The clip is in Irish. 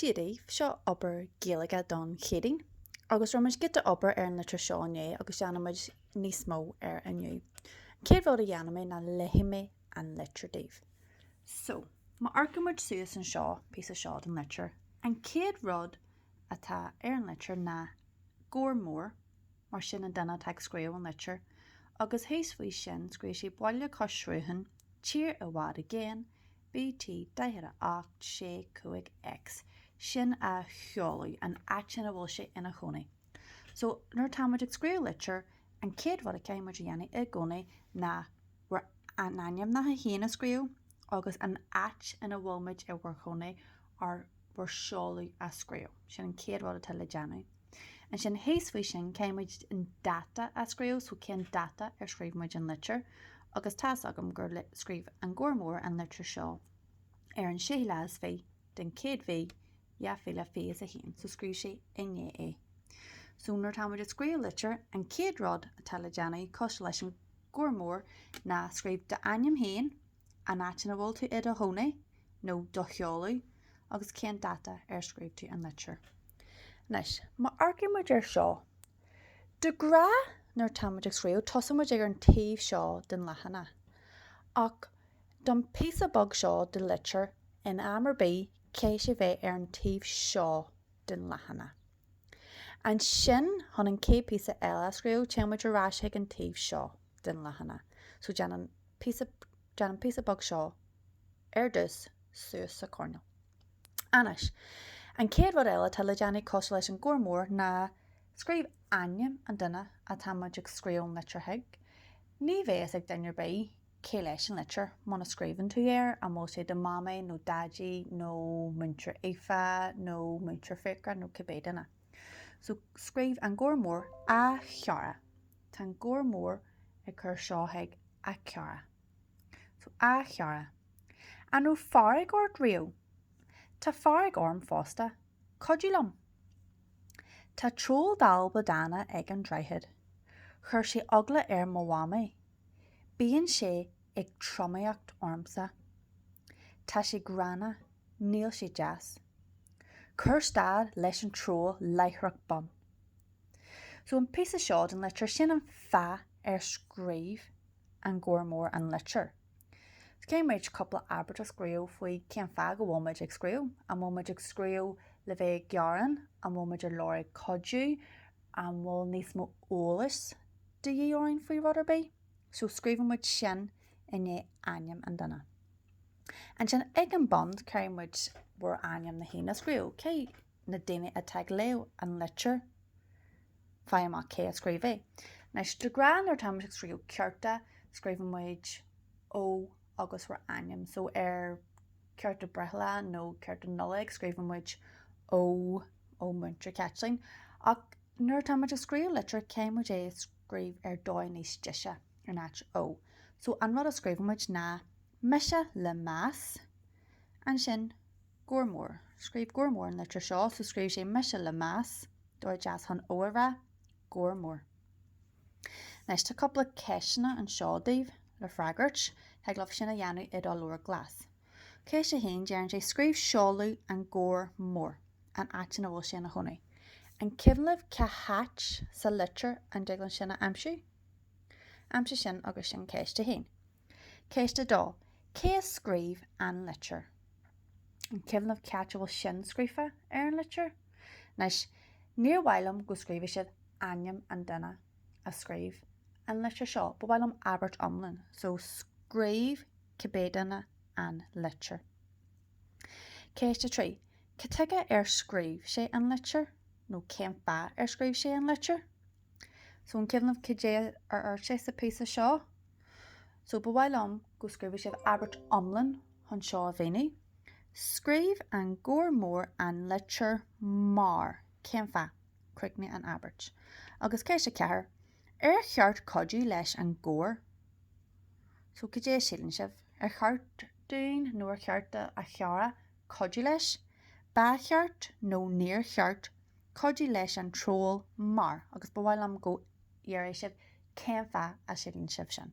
Dia daoibh, seo obair Gaeilge don Chéadaoin agus rinne muid giota obair ar an litir seo inné agus déanfaidh muid níos mó uirthi inniu. An chéad rud a dhéanfaidh mé ná léifidh mé an litir daoibh. So, má amharcann muid suas anseo, an píosa seo den litir, an chéad rud atá ar an litir ná Gabhar Mór, mar sin an duine atá ag scríobh an litir, agus thíos faoi sin scríobh sé Baile Cois Sruthain, Tír i bhfad i gcéin, BT 48C5 X sin a sheoladh an áit ina bhfuil sé ina chónaí. So, nuair atá muid ag scríobh litir, an chéad rud a chaithfidh muid a dhéanamh i gcónaí ná ár n-ainmneacha féin a scríobh agus an áit ina bhfuil muid i bhur gcónaí nó bhur seoladh a scríobh. Sin an chéad rud atá le déanamh. Ansin thíos faoi sin caithfidh muid, an dáta a scríobh so cén dáta ar scríobh muid an litir agus tá's agam gur scríobh an Gabhar Mór an litir seo ar an séú lá is fiche den chéad mhí, dhá mhíle fiche is a haon, so scríobh sé inné é. So nuair atá muid ag scríobh litir, an chéad rud atá le déanamh cosúil leis an Gabhar Mór ná scríobh d'ainm féin, an áit ina bhfuil tú i do chónaí nó do sheoladh agus cén dáta ar scríobh tú an litir. Anois, má amharcann muid ar seo, de ghnáth, nuair atá muid ag scríobh, tosaíonn muid ag ar an taobh seo den leathanach, ach don phíosa beag seo de litir, in am ar bith, caithfidh sé bheith ar an taobh seo den leathanach. Ansin, chun an chéad píosa eile a scríobh, téann muid ar ais chuig an taobh seo den leathanach. So, déan an, déan an píosa beag seo ar dtús, suas sa choirnéal. Anois, an chéad rud eile atá le déanamh cosúil leis an Gabhar Mór ná scríobh ainm an duine atá muid ag scríobh litreach chuig. Ní bheidh a fhios ag duine ar bith. Cé leis an litir, muna scríobhann tú air, an bhfuil sé do Mamaí nó Daidí nó Múinteoir Aoife nó Múinteoir Fiachra nó cibé duine? So, scríobh an Gabhar Mór, A Chara! Tá an Gabhar Mór ag cur seo chuig a chara. So, A Chara. An raibh fearg ort riamh? Tá fearg orm fosta. Cuidigh liom. Tá troll dalba dána ag an Droichead. Chuir sé eagla ar mo Mhamaí. Bíonn sé ag tromaíocht ormsa. Tá sé gránna, níl sé deas. Cuir stad leis an troll láithreach bonn. So an píosa seo den litir, sin an fáth ar scríobh an Gabhar Mór an litir. Caithfidh muid, cúpla abairt a scríobh faoi cén fáth go bhfuil muid ag scríobh. An bhfuil muid ag scríobh le bheith ag gearán, an bhfuil muid ag lorg cuidiú, An bhfuil níos mó eolais de dhíth orainn faoi rud ar bith? So scríobhann muid sin i ndiaidh ainm an duine. Ansin ag an bun caithfidh muid bhur ainmneacha a scríobh, cé na daoine atá ag léamh an litir, faigh amach cé a scríobh é. Anois de ghnáth nuair atá muid ag scríobh cárta scríobhann muid Ó agus bhur ainm. So ar. cárta breithlá nó cárta Nollag, scríobhann muid Ó, ó Múinteoir Caitlín, ach nuair atá muid ag scríobh litir, caithfidh muid é a scríobh ar dóigh níos deise, in áit Ó. So an rud a scríobhann muid ná Mise le meas. Ansin Gabhar Mór. Scríobh Gabhar Mór an litir seo, so scríobh sé Mise le meas, dóigh deas chun Ó a rá, Gabhar Mór. Anois tá cúpla ceisteanna anseo daoibh le freagairt. Thig libh sin a dhéanamh i do leabhar glas. Ceist 1, deireann sé, 'Scríobh seoladh an Ghabhair Mhóir, an áit ina bhfuil sé ina chónaí. An cuimhin libh cá háit sa litir an dtig linn sin a aimsiú? Aimsigh sin agus sin ceist 1. Ceist 2, Cé a scríobh an litir? An cuimhin libh cá háit a bhfuil sin scríofa ar an litir? Anois, níor mhaith liom go scríobhfadh sibh ainm an duine a scríobh an litir seo. Ba mhaith liom abairt iomlán, so scríobh cibé duine an litir. Ceist 3, Cad tuige ar scríobh sé an litir? nó cén fáth ar scríobh sé an litir? So an cuimhin libh cad é ar iarr sé sa phíosa seo. So ba mhaith liom go scríobhfadh sibh abairt iomlán chun seo a mhíniú. Scríobh an Gabhar Mór an litir mar. Cén fáth? Críochnaigh an abairt. Agus ceist a ceathair, ar cheart cuidiú leis an ghabhar? So cad é a síleann sibh? Ar cheart dúinn nó ar cheart do a chara cuidiú leis, ba cheart nó níor cheart cuidiú leis an troll mar, agus ba mhaith liom go ndéarfaidh sibh cén fáth a síleann sibh sin.